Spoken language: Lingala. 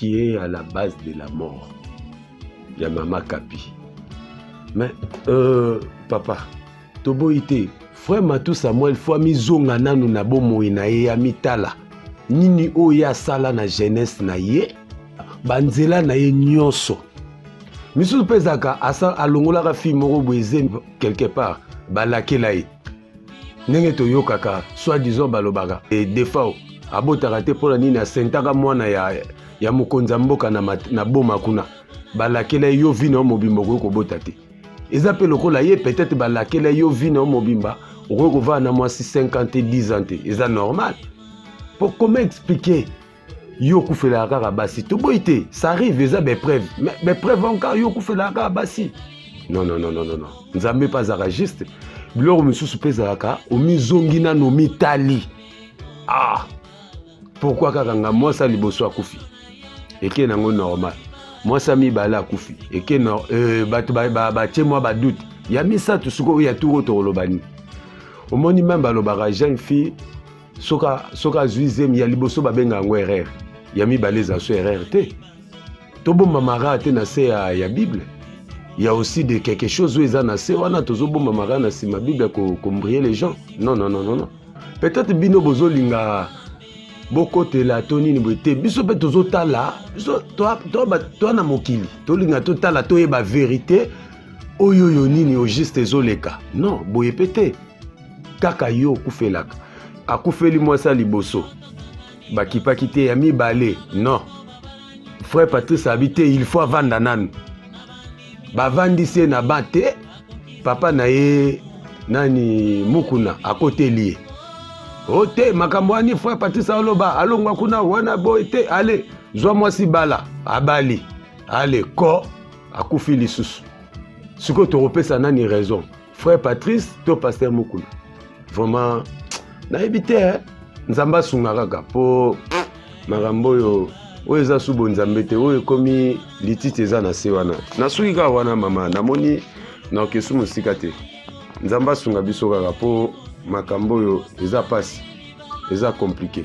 qui est à la base de la mort ya mama kapi mais euh, papa toboyi te frère matou samuel fo amizonga nanu na bomoi na ye amitala nini oyo ye asala na jeunesse na ye banzela na ye nyonso misusu mpe ezalaka alongolaka fille moko boye quelque part balakela ye ndenge toyokaka soit disant balobaka e eh, defao abotaka te mpo na nini asentaka mwana ya, ya mokonzi ya mboka na, mat, na boma kuna balakela yo vi na yo mobimba okoki kobota te eza mpe lokola ye peut-être balakela yo vi na yo mobimba okoki kovanda na mwasi 50 te 10 ans te eza normal mpo comment expliquer yo okufelaka kaka basi toboyi te ça arrive eza baepreuve mais baepreuve yango kaka yo okufelaka kaka basi non non non non non nzambe mpe azalaka juste biloko mosusu mpe ezalaka omizongi nano omitali ah pourkui kaka nga mwasi ya liboso akufi eke nango normal mwasi ya mibale akufi eke no, euh, bato batie ba, ba, ba, mwa badute ya misato sikoyo ya turo tokoloba nini omoni meme balobaka jeune fille soka soka azwi zemi ya liboso babenga yango erreur ya mibale eza so erreur te tobomba mara te na se ya, ya bible ya aussi de quelque chose oyo eza na se wana tozobomba mara na nsima bible kombrie les gens non non non non, non. peut-être bino bozolinga bokotela to nini boye te biso mpe tozotala biso toa na mokili tolinga totala toyeba verité oyo oyo nini au juste ezoleka non boye mpe te kaka yo okufelaka akufeli mwasi ya liboso bakipaki te ya mibale non frère patrice abi te il faut avanda nanu bavandisi ye na ban te papa na ye nani mukuna akoteli ye o oh, te makambo wani frère patrice aloba alongwa kuna wana boye te ale zwa mwasi bala abali ale ko akufi lisusu sikoyo tokopesa nani raison frère patrice to pasteur mukuna vraiment nayebi te eh? nzambe asunga kaka mpo makambo oyo oyo eza subo nzambe te oyo ekomi lititi eza na se wana nasuki kaka wana mama namoni naokesu mosika te nzambe asunga biso kaka mpo makambo oyo eza mpasi eza komplike